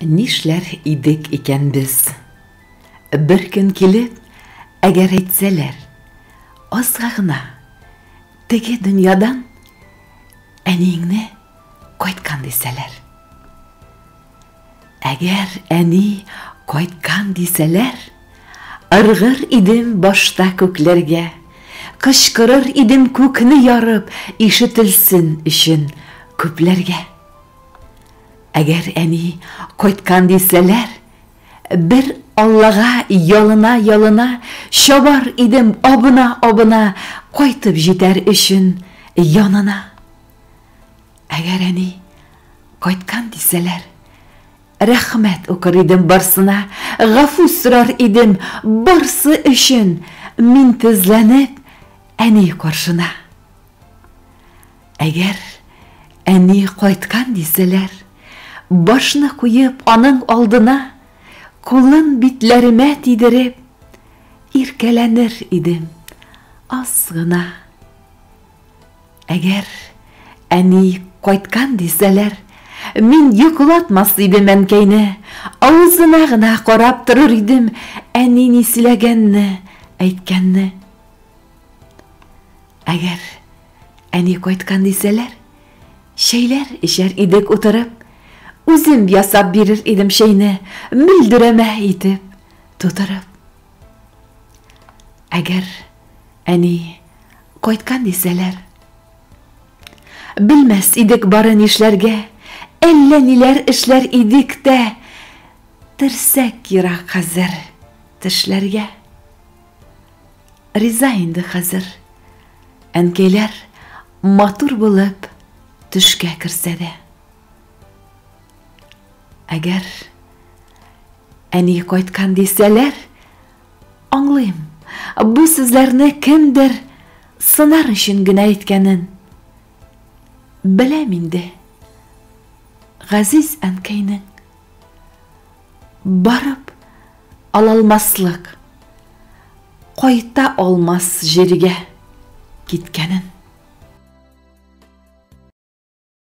Нишләр идек икән без? Бер көн килеп, әгәр әйтсәләр, Азга гына теге дөньядан әниеңне кайткан дисәләр. Әгәр әни кайткан дисәләр, ыргыр идем башта күкләргә, кычкырыр идем күкне ярып ишетелсен өчен күпләргә. Әгәр әни кайткан дисәләр, бер Аллага ялына-ялына чабар идем абына-абына кайтып җитәр өчен янына. Әгәр әни кайткан дисәләр, рәхмәт укыр идем барсына, гафу сорар идем барсы өчен, мин тезләнеп әни каршына. Әгәр әни кайткан дисәләр, башны куеп аның алдына, кулын битләремә тидереп, иркәләнер идем, аз гына. Әгәр әни кайткан дисәләр, мин йокылатмас идем әнкәйне, авызына гына карап торыр идем, әни ни сөйләгәнне, әйткәнне. Әгәр Әни кайткан дисәләр, чәйләр эчәр идек утырып. Үзем ясап бирер идем чәйне, мөлдерәмә итеп, тутырып. Әгәр әни кайткан дисәләр, белмәс идек бары нишләргә, әллә ниләр эшләр идек тә, терсәк ерак хәзер тешләргә. Риза инде хәзер. Әнкәйләр матур булып төшкә керсә дә. Әгәр әни кайткан дисәләр, аңлыйм. Бу сүзләрне кемдер сынар өчен генә әйткәнен. Беләм инде. Газиз әнкәйнең Барып алалмаслык, кайта алмас җиргә киткәнен.